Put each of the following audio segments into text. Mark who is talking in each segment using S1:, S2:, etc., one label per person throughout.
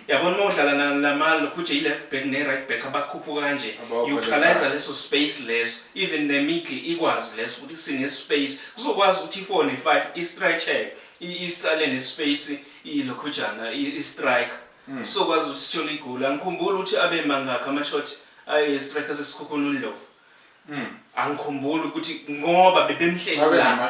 S1: yabona uma udlala nalamali lokhuthe yi-left back ne-right back abakhuphuka kanje utilise leso space leso even nemiddle ikwazi leso ukuthi sinespace kuzokwazi ukuthi i-four ne-five i-stretcheke isale nespace ilokhujana i-strike hmm. sizokwazi ukuthi sithole igoli angikhumbuli ukuthi abe mangakhi ama-shot ayi-strike asesikhukhuna undlovu hmm. angikhumbuli ukuthi ngoba bebemhlelelaa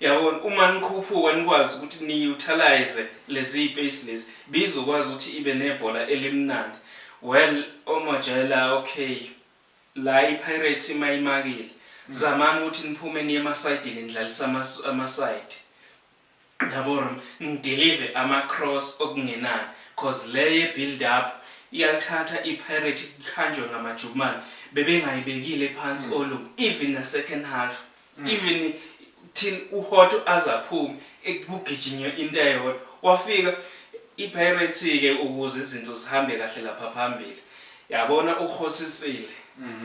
S1: Yabona uma nikhuphuka nikwazi ukuthi ni utilize lezi pace lezi beyizokwazi ukuthi ibe nebhola elimnandi well omajela ok la i pirates ima imakile mm. zamani ukuthi niphume niye emasayidini nidlalisa amasayidi yabo nidelive ama cross okungenani cause le ye build up iyalithatha i pirate ikhanjwe ngamajukumane bebengayibekile phansi mm. olu even na second half Mm. even thina uhot azaphume ekugijinywe into eyodwa wafika ipirates ke ukuze izinto zihambe kahle lapha phambili yabona uhosisile mhm.